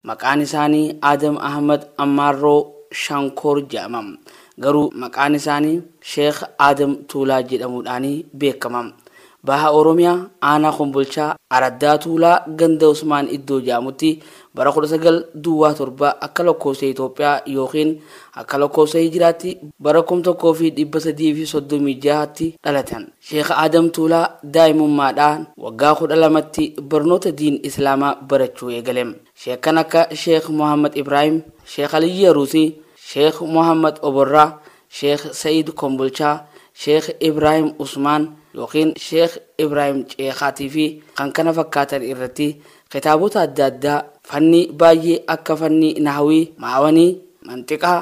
Maqaan isaanii Aadam Ahmad Ammaarroo Shankoor jedhama. Garuu maqaan isaanii Sheekh Aadam Tuulaa jedhamuudhaan beekama. Baha Oromiyaa Aanaa Kombolchaa Araddaa Tuulaa Ganda Usmaan Iddoo jedhamutti bara 19 Duwwaa 7 akka lakkoofsa Itoophiyaa ykn akka lakkoofsa Hijiraatti bara 1336tti dhalatan. Sheekh Aadam Tuulaa daa'imummaadhaa waggaa 12tti barnoota diin Islaamaa barachuu eegale. Sheekkan akka Sheekh Muhammad Ibraahim, Sheekh Aliyyii Aruusii, Sheekh Muhammad Oborraa, Sheekh Sa'iid Kombolchaa, Sheekh Ibraahim Usmaan yookiin Sheekh Ibraahim Ceekaatii fi kan kana fakkaatan irratti kitaabota adda addaa fannii baay'ee akka fannii Nahwii, Ma'awanii, Manxiqaa,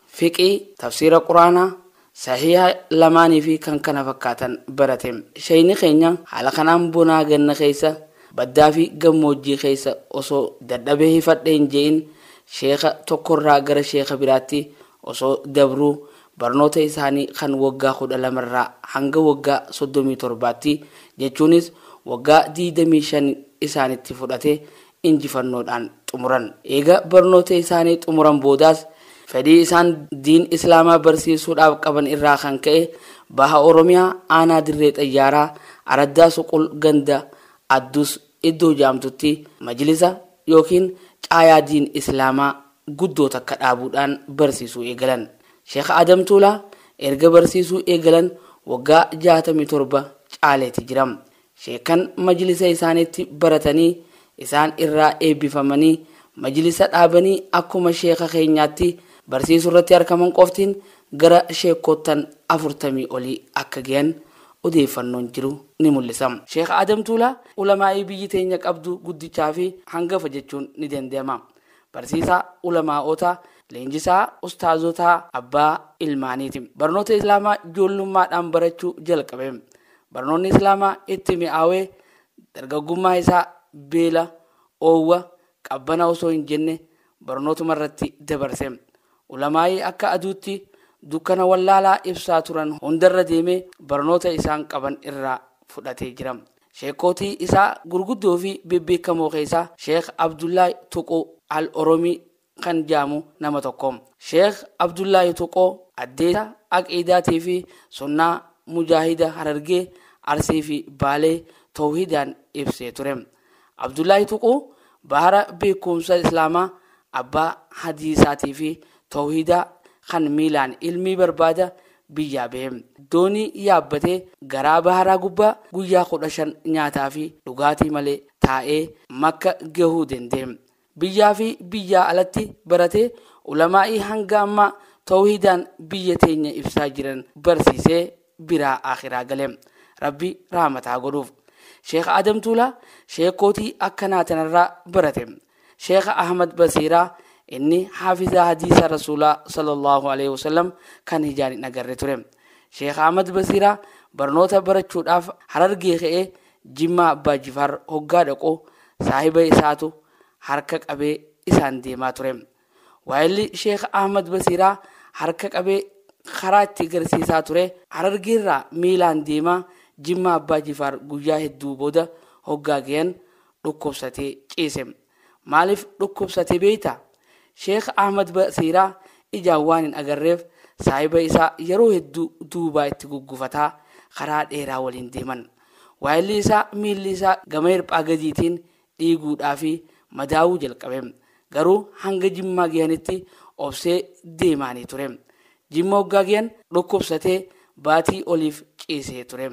fiqhii, tafsiira quraanaa, sahiiha lamaanii fi kan kana fakkaatan barate. Sheyni keenya haala kanaan bonaa ganna keessa, baddaa fi gammoojjii keessa osoo dadhabee hifadhe hin je'in sheekha tokkorraa gara sheekha biraatti osoo dabruu barnoota isaanii kan woggaa 12 irraa hanga woggaa 37tti jechuunis woggaa 25 isaanitti fudhate injifannoodhaan xumuran. Eega barnoota isaanii xumuran boodaas fedhii isaan diin Islaamaa barsiisuudhaaf qaban irraa kan ka'e Baha Oromiyaa aanaa Dirree Xayyaaraa araddaa Suqul ganda Addus iddoo jaamtutti majlisa ykn caayaa diin Islaamaa guddoo takka dhaabuudhaan barsiisuu eegalan. Sheekh Adam Tuulaa erga barsiisuu eegalan waggaa 67 caaleeti jira. Sheekkan majlisa isaanitti baratanii, isaan irraa eebbifamanii, majlisa dhaabanii akkuma sheekha keenyaatti barsiisurratti arkaman qoftiin gara sheekkoottan 40 olii akka gayan odeeffannoon jiru ni mul'isa. Sheekh Aadam Tuulaa ulamaa'ii biyyi teenya qabdu guddichaa fi hangafa jechuun ni dandayama. Barsiisaa ulamaa'ootaa, leenjisaa ustaazotaa, abbaa ilmaaniiti. Barnoota Islaamaa joollummaadhaan barachuu jalqabe. Barnoonni Islaamaa itti mi'aawee dargaggummaa isaa beela, oowwa, qabbana osoo hin jenne barnootuma irratti dabarse. Ulamaa'ii akka aduutti dukkana wallaalaa ibsaa turan hundarra deemee barnoota isaan qaban irraa fudhatee jira. Sheekkootii isaa gurguddoo fi bebbeekamoo keessaa Sheekh Abdullaah Tuquu Al-Oromii kan jaamu nama tokko. Sheekh Abdullaahi Tuqoo addeessa Aqiidaatii fi Sunnaa Mujaahida Harargee, Arsii fi Baalee Towhiidaan ibsee ture. Abdullaahi Tuquu bahara beekkumsa Islaamaa abbaa Hadiisaatii fi Towhiidaa kan miilaan ilmii barbaada biyyaa bahe. Doonii yaabbatee garaa baharaa gubbaa guyyaa 15 nyaataa fi dhugaatii malee taa'ee Makka gahuu danda'e. biyyaa fi biyyaa alatti baratee ulamaa'ii hanga ammaa tawhiidaan biyya teenya ibsaa jiran barsiisee biraa akhiraa gale rabbi rahmataa godhuuf sheekh adam tuulaa sheekootii akkanaa tanarraa barate sheekh ahmad basiiraa inni haafizaa hadiisa rasuulaa sallallahu alaihi wasallam kan hijaan hin agarre ture sheekh ahmad basiiraa barnoota barachuudhaaf harargee ka'ee Jimmaa Abbaa Jifaar hoggaa dhaqu saahiba isaatu harka qabee isaan deemaa ture. Waayilli Sheekh Ahmad Basiiraa harka qabee karaa itti garsiisaa ture. Harargeerraa miilaan deemaa Jimmaa Abbaa Jifaar guyyaa hedduu booda hoggaa gayan dhukkubsatee ciise. Maaliif dhukkubsate beekta? Sheekh Ahmad Basiiraa ijaan waan hin agarreef saahiba isaa yeroo hedduu duubaa itti guggufataa karaa dheeraa waliin deeman. Waayilli isaa miilli isaa gama hirphaa gadiitiin dhiiguudhaa fi madaa'uu jalqabe. Garuu hanga Jimmaa gahanitti obsee deemaanii ture. Jimma hoggaa gahan dhukkubsatee baatii oliif ciisee ture.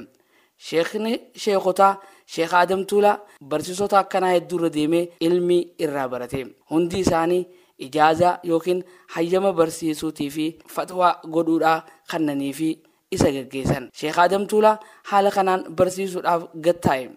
Sheekni sheekotaa Sheek Aadam Tuulaa barsiisota akkanaa hedduu irra deemee ilmii irraa barate. Hundi isaanii ijaazaa yookiin hayyama barsiisuutii fi fatwaa godhuudhaa kannanii fi isa gaggeessan. Sheek Aadam Tuulaa haala kanaan barsiisuudhaaf gad taa'e.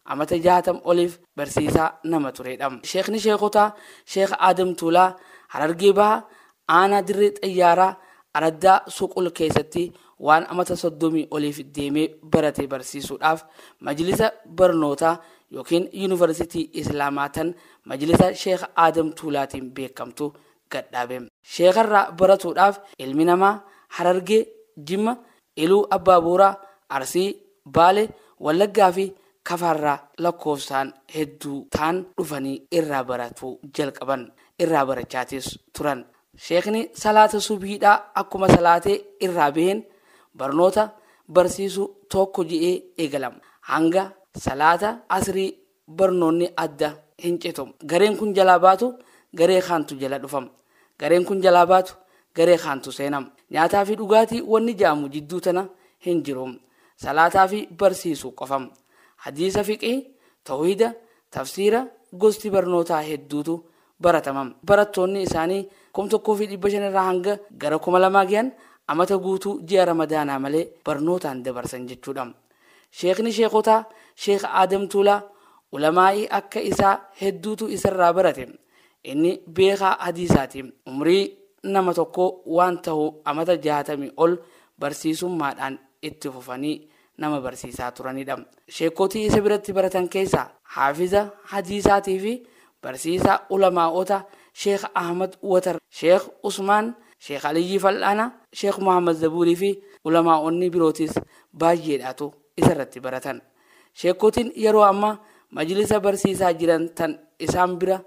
Amata jaatam oliif barsiisaa nama tureedha. Sheekni sheekotaa Sheek Aadam Tuulaa Harargee Bahaa Aanaa Dirree Xayyaaraa Araddaa Suqul keessatti waan amata 30 oliif deemee barate barsiisuudhaaf Majlisa Barnootaa ykn Yuunivarsitii Islaamaa tan Majlisa Sheekh Aadam Tuulaatiin beekamtu gadhaabe. Sheekharraa baratuudhaaf ilmi namaa Harargee, Jimma, Iluu Abbaa Booraa, Arsii, Baale, Wallaggaa fi Kafaarraa lakkoofsaan hedduu ta'an dhufanii irraa baratuu jalqaban. Irraa barachaatis turan. Sheekni salaata subhiidhaa akkuma salaatee irraa baheen barnoota barsiisuu tokko je'ee eegalama. Hanga salaata asrii barnoonni adda hin citu. Gareen kun jalaa baatu garee kaantu jala dhufa. Gareen kun jalaa baatu garee kaantu seena. Nyaataa fi dhugaatii wanni ja'amu jidduu tana hin jiru. Salaataa fi barsiisuu qofa. Hadiisa fiqhii, towhiida, tafsiira, gosti barnootaa hedduutu baratama. Barattoonni isaanii 1500 irraa hanga gara 2000 geyan amata guutuu ji'a ramadaanaa malee barnootaan dabarsan jechuudha. Sheekni sheekotaa Sheek Aadam Tuulaa ulamaa'ii akka isaa hedduutu isarraa barate. Inni beekaa hadiisaati. Umrii nama tokkoo waan tahu amata jaatamii ol barsiisummaadhaan itti fufanii nama barsiisaa turanidha. Sheekotii isa biratti baratan keessaa haafiza hadiisaatiifi Barsiisaa Ulamaa'oota Sheekh Ahmad Watar, Sheekh Usmaan, Sheekh Aliyyii Fal'aana, Sheekh Muhammad Zabuurii fi Ulamaa'onni birootis baayyeedhaatu isarratti baratan. Sheekkotiin yeroo amma majlisa barsiisaa jiran tan isaan bira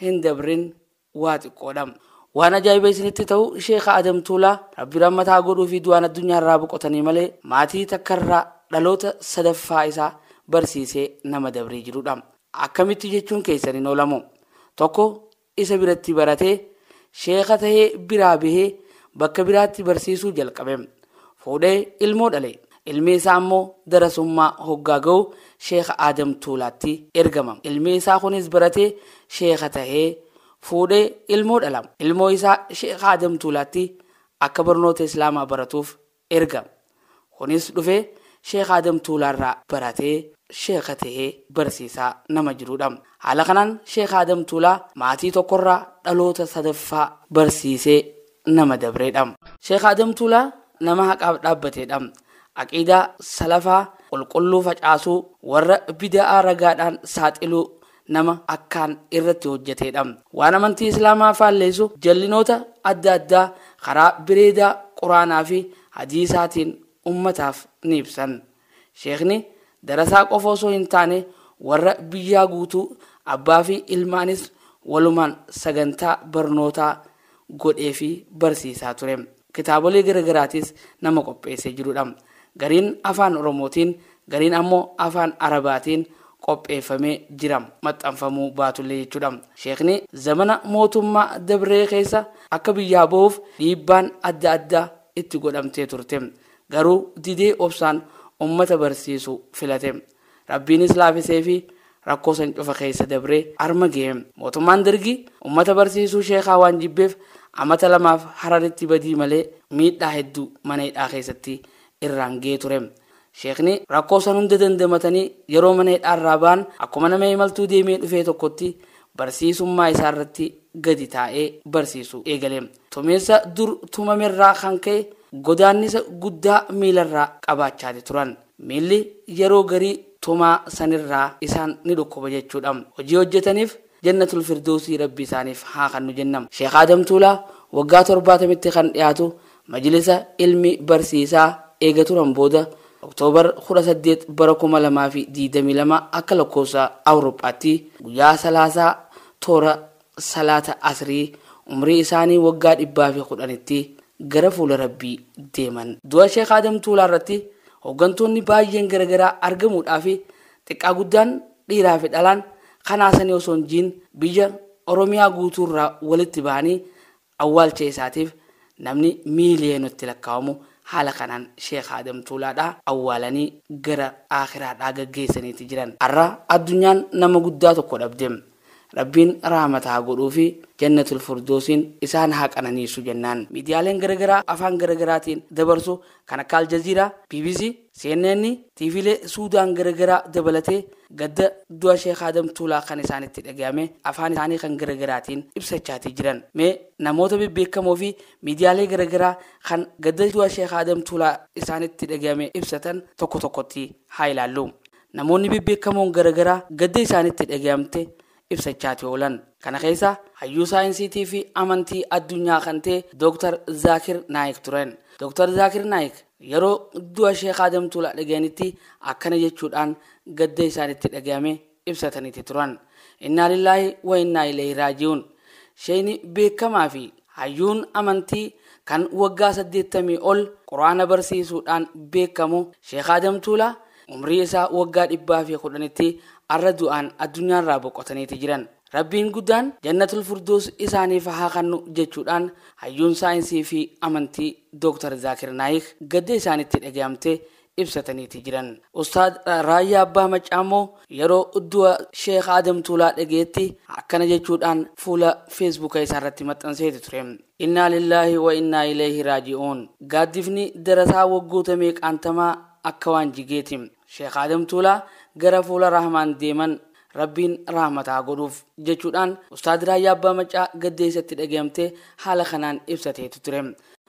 hin dabrin waa xiqqoodha. Waan ajaa'iba isinitti ta'u Sheekha Adam Tuulaa Rabbi rahmata haa godhuufi du'aan addunyaarraa boqotanii malee maatii takkarraa dhaloota sadaffaa isaa barsiisee nama dabree jirudha. Akkamitti jechuun keessan hin oolamu. Tokko isa biratti baratee, sheeka tahee biraa bahee bakka biraatti barsiisuu jalqabe. Fuudhee ilmoo dhale. Ilmi isaa ammoo darasummaa hoggaa gahu Sheeka Aadam Tuulaatti ergama. Ilmi isaa kunis baratee sheeka tahee, fuudhee ilmoo dhala. Ilmoo isaa Sheeka Aadam Tuulaatti akka barnoota Islaamaa baratuuf Erga Kunis dhufee Sheikh Adam Tuulaarraa baratee Sheikha tahee barsiisaa nama jiruudha. Haala kanaan Sheikh Adam Tuulaa maatii tokkorraa dhaloota sadaffaa barsiisee nama dabreedha. Sheikh Adam Tuulaa nama haqaaf dhaabbateedha. Aqiidaa Salafaa qulqulluu facaasuu, warra bida'aa ragaadhaan saaxiluu, nama akkaan irratti hojjateedha. Waan amantii Islaamaa faalleessu jallinoota adda addaa karaa bireedaa Qur'aanaa fi Hadiisaatiin ummataaf ni ibsan. Sheekhni darasaa qofa osoo hin taane warra biyyaa guutuu abbaa fi ilmaanis walumaan sagantaa barnootaa godheefii barsiisaa ture. Kitaabolee gara garaatiis nama qopheessee jirudha. Gariin Afaan Oromootiin, gariin ammoo Afaan Arabaatiin qopheeffamee jira, maxxanfamuu baatullee jechuudha. Sheekni zamana mootummaa dabree keessa akka biyyaa bahuuf dhiibbaan adda addaa itti godhamtee turte. Garuu didee obsaan ummata barsiisu filate. Rabbiinis laafiseefii rakkoo san cufa keessa dabree arma gahe. Mootummaan Dergii ummata barsiisuu sheekaa waan jibbeef amata lamaaf Hararitti badii malee miidhaa hedduu mana hidhaa keessatti irraan gahee ture. Sheekni rakkoo san hunda dandamatanii yeroo mana hidhaa irraa bahan akkuma nama imaltuu deemee dhufee tokkotti barsiisummaa isaa irratti gadi taa'ee barsiisuu eegale. Tumiinsa dur tumame irraa kan ka'e godaannisa guddaa miila irraa qabaachaati turan. Miilli yeroo garii tumaa sanirraa isaan ni dhukkuba jechuudha. Hojii hojjetaniif Jannatul Firdoowsii Rabbi isaaniif haa kannu jenna. Sheekh Aadam Tuulaa waggaa torbaatamitti kan dhiyaatu majlisa ilmi barsiisaa eega turan booda October 18 bara 2022 akka lakkoofsa Awuroophaatti guyyaa Salaasaa toora salaata asrii umrii isaanii waggaa dhibbaa fi kudhanitti gara fuula rabbii deeman. Du'a Sheekh Aadam Tuulaa irratti hoggantoonni baay'een garagaraa argamuudhaa fi xiqqaa guddaan dhiiraa fi dhalaan kan haasanii osoo hin jiin biyya Oromiyaa guutuu irraa walitti bahanii Awwaalcha isaatiif namni miiliyeenatti lakkaawamu haala kanaan Sheekh Aadam Tuulaadhaa awwaalanii gara Aakhiraadhaa gaggeessaniiti jiran. Arra addunyaan nama guddaa tokko dhabde. Rabbiin rahmata haa godhuufi Jannatul Furdoosiin isaan haa qananiisu jennaan. Miidiyaaleen gara garaa afaan gara garaatiin dabarsu kan akka Aljaziiraa, bbc, CNN, TVlee Suudaan garagaraa dabalatee gadda du'a Sheek Aadam Tuulaa kan isaanitti dhagahame afaan isaanii kan garagaraatiin ibsachaatii jiran. Mee namoota bebbeekamoo fi miidiyaalee garagaraa kan gadda du'a Sheek Aadam Tuulaa isaanitti dhagahame ibsatan tokko tokkotti haa ilaallu. Namoonni bebbeekamoon garagaraa gadda isaanitti dhagahamte ibsachaati oolan. Kana keessa hayyuu saayinsiitii fi amantii addunyaa kan ta'e Dr. Zaakir Naayik turen. Dr. Zaakir Naayik yeroo du'a Sheek Aadam Tuulaa dhagayanitti akkana jechuudhaan gadda isaanitti dhagayame ibsataniiti turan. Innaa lillaahi wa innaa ilayhi raaji'uun. Sheeyni beekamaa fi Hayyuun amantii kan waggaa 80 ol Qur'aana barsiisuudhaan beekamu Sheikh Adam Tuulaa umrii isaa waggaa 110tti arra du'aan addunyaarraa boqotaniiti jiran. Rabbiin guddaan Jannatul Furdoos isaaniif haa kannu jechuudhaan hayyuun saayinsii fi amantii Dr. Zaakir Naayik gadda isaanitti dhagayamte ibsataniiti jiran. Ustaad Raayyaa Abbaa Maccaa immoo yeroo du'a Sheikh Aadam Tuulaa dhagayetti akkana jechuudhaan fuula Feesbuuka isaa irratti maxxanseeti ture. Innaa lillaahi wa innaa ileeyhi raaji'uun. Gaaddifni darasaa waggoota meeqaan tamaa akka waan jigeeti. Sheikh Aadam Tuulaa gara fuula Rahmaan deeman. Rabbiin rahmata haa godhuuf. Jechuudhaan Ustaad Raayyaa Abbaa Maccaa gadda isatti dhagayamte haala kanaan ibsateeti ture.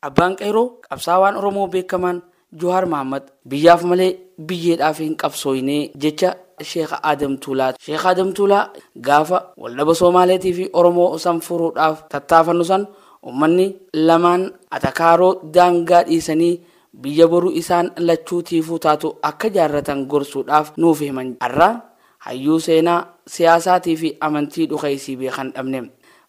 Abbaan Qeyroo qabsaawaan Oromoo beekamaan Johaar Mahaammad biyyaaf malee biyyeedhaaf hin qabsooyne jecha Sheekh Aadam Tuulaa ti. Sheekh Aadam Tuulaa gaafa waldhaba Soomaaleetii fi Oromoo san furuudhaaf tattaafannu san ummanni lamaan atakaaroo daangaa dhiisanii biyya boru isaan lachuu tiifuu taatu akka jaarratan gorsuudhaaf nuuf himan. Arra Hayyuu seenaa, siyaasaatii fi amantii dhukeessii beekan dhabne.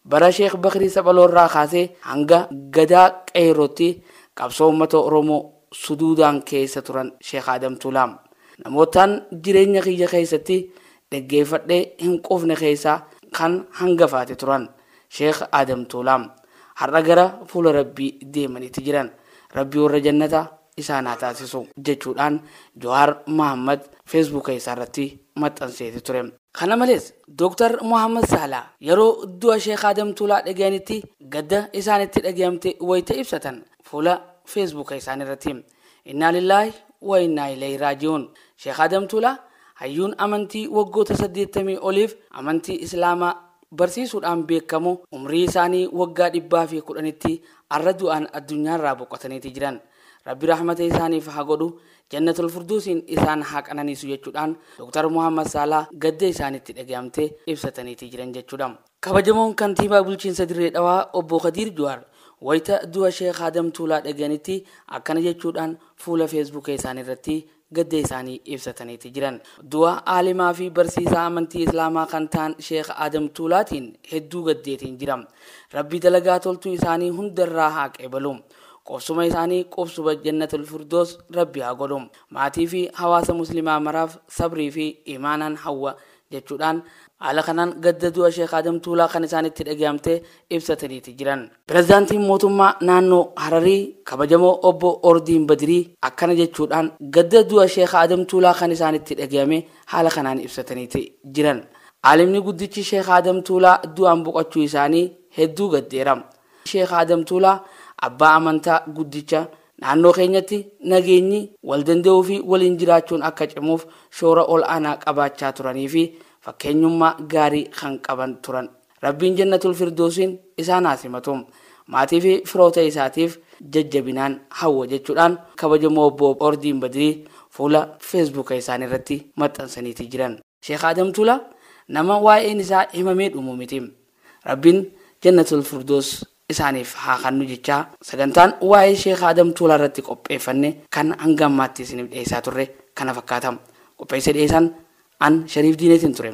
Bara Sheek Bakrii Saphaloo irraa kaasee hanga Gadaa Qeeyrootti qabsoo ummata Oromoo suduudaan keessa turan Sheek Aadam Tuulaa. Namoottan jireenya kiyya keessatti dheggeeffadhee hin quufne keessaa kan hangafaati turan Sheek Aadam Tuulaa. Har'a gara fuula Rabbii deemaniiti jiran. Rabbi warra Jannataa isaan haa taasisu jechuudhaan Johaar Mahaammad Feesbuuka isaa irratti maxxanseeti ture. Kana malees, Dooktar Mohaammad Saalaa yeroo du'a Sheek Aadam Tuulaa dhagayanitti gadda isaanitti dhagayamte wayita ibsatan fuula Feesbuuka isaanii irratti Innaa lillaahi wa innaa ilayhi raaji'uun Sheek Aadam Tuulaa hayyuun amantii waggoota 80 oliif amantii Islaamaa barsiisuudhaan beekamu umrii isaanii waggaa 110tti arra du'aan addunyaarraa boqotaniiti jiran. Rabbi rahmata isaaniif haa godhu, Jannatul Furduusiin isaan haa qananiisu jechuudhaan Dr. Muhammad Saalaa gadda isaanitti dhagayamte ibsataniiti jiran jechuudha. Kabajamoon Kantiibaa Bulchiinsa Dirree Dhawaa Obbo Kadiir Juhaar wayita du'a Sheikh Adam Tuulaa dhagayanitti akkana jechuudhaan fuula Feesbuuka isaaniirratti gadda isaanii ibsataniiti jiran. Du'a aalimaa fi barsiisaa amantii Islaamaa kan ta'an Sheekh Aadam Tuulaatiin hedduu gaddeetiin jira. Rabbi dalagaa toltuu isaanii hunda irraa haa qeebalu. Qubsuma isaanii qubsuba Jannatul Furdoos Rabbi haa godhu. Maatii fi hawaasa Muslimaa maraaf sabrii fi iimaanaan hawwa jechuudhaan haala kanaan gadda du'a Sheekh Aadam Tuulaa kan isaanitti dhagayamte ibsataniiti jiran. Pirezidaantiin Mootummaa Naannoo Hararii Kabajamoo Obbo Ordiin Badirii akkana jechuudhaan gadda du'a Sheekh Aadam Tuulaa kan isaanitti dhagayame haala kanaan ibsataniiti jiran. Aalimni guddichi Sheekh Aadam Tuulaa du'aan boqachuu isaanii hedduu gaddeera. Sheekh Aadam Tuulaa abbaa amantaa guddicha, naannoo keenyatti nageenyi, wal danda'uu fi waliin jiraachuun akka cimuuf shoora ol aanaa qabaachaa turanii fi fakkeenyummaa gaarii kan qaban turan. Rabbiin Jannatul Firdoowsiin isaan haa simatu. Maatii fi firoota isaatiif jajjabinaan hawwa jechuudhaan kabajamoo obbo Ordiin Badirii fuula Feesbuuka isaanii irratti maxxansaniitii jiran. Sheikh Adam Tula nama waa'een isaa himamee dhumu miti. Rabbiin Jannatul Firdoos isaaniif haa kannu jechaa sagantaan waa'ee Sheikh Adam Tula irratti qopheeffanne kan hanga ammaatti isiniif dhiyeessaa turre kana fakkaata. Qopheessee dhiyeessaan an Shariif Diineetiin ture.